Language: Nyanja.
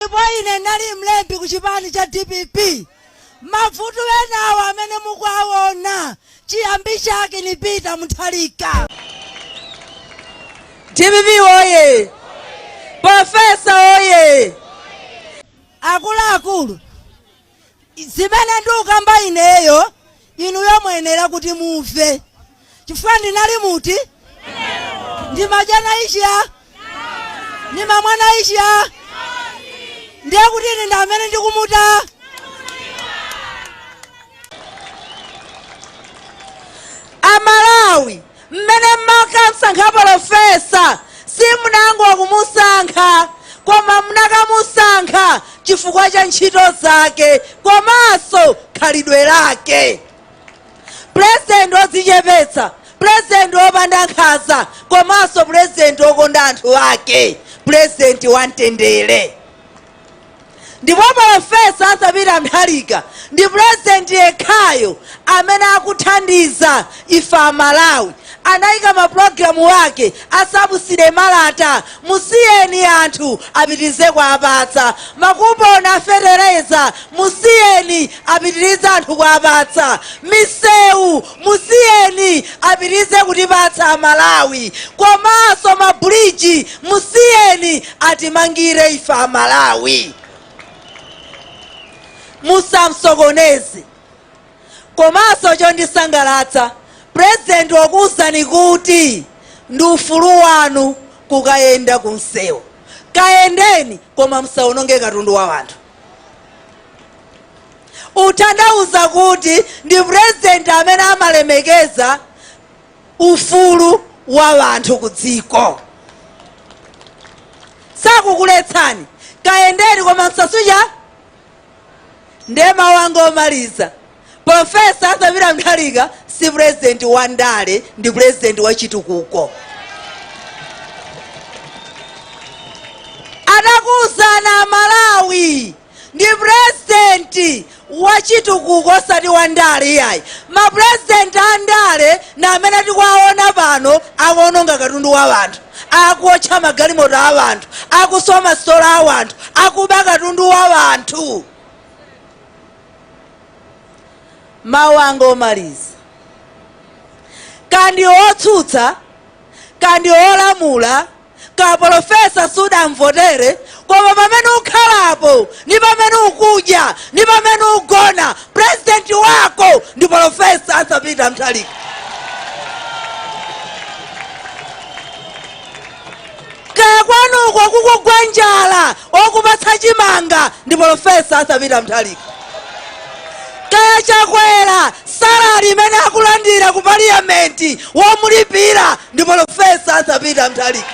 ndipo ine ndinali mlembi ku chipani cha dpp. Mabvuto enawo amene mukuwaona chiyambi chake ni Peter Mutharika. Dpp woye! Pofesa woye! Akuluakulu, zimene ndikukamba ineyo inuyo muyenera kuti mumve chifukwa ndinali muti ndimadya nayi chiya ndimamwa nayi chiya ndiye kuti ine ndi amene ndikumudziwa amalawi Mmene mmakamsankha polofesa, simunangokmusankha, koma munakamusankha chifukwa cha ntchito zake komanso khalidwe lake. Pulezidenti odzichepetsa, pulezidenti opanda nkhanza komanso pulezidenti okonda anthu ake, pulezidenti wamtendere. Ndipo Polofesa Arthur Peter Mutharika ndi President yekhayo amene akuthandiza ife a Malawi. Anaika ma program ake a subsidy malata musiyeni anthu apitilize kuwapatsa. Ma coupon a fetereza musiyeni apitilize anthu kuwapatsa. Miseu musiyeni apitirize kutipatsa amalawi komanso ma bridge musiyeni atimangire ife amalawi musamsokoneze komanso chondisangalatsa president wakuuzani kuti ndi ufulu wanu kukayenda kumsewu kayendeni koma msaononge katundu wa wanthu Utanthauza kuti ndi president amene amalemekeza ufulu wa wanthu ku dziko. Sakukuletsani, kayendeni koma msasuche. Nde mawu anga omaliza, Professor Arthur Peter Mutharika si president wa ndale, ndi president wa chitukuko. Anakuuzani a Malawi ndi president wachitukuko osati wandale iyayi. Ma president andale ndi amene tikuwaona pano akuononga katundu wa wanthu, akuotcha magalimoto a wanthu, akuswa ma sitolo a wanthu, akuba katundu wa wanthu. Mawu anga omaliza, kaya ndi otsutsa kaya ndi olamula, Ka polofesa sudamvotere koma pamene ukhalapo ndi pamene ukudya ndi pamene ugona president wako ndi polofesa Arthur Peter Mutharika. Kaya kwanuko kukugwa njala okupatsa chimanga ndi polofesa Arthur Peter Mutharika. Kaya Chakwera Salary imene akulandira ku parliament womulipira ndi polofesa Arthur Peter Mutharika.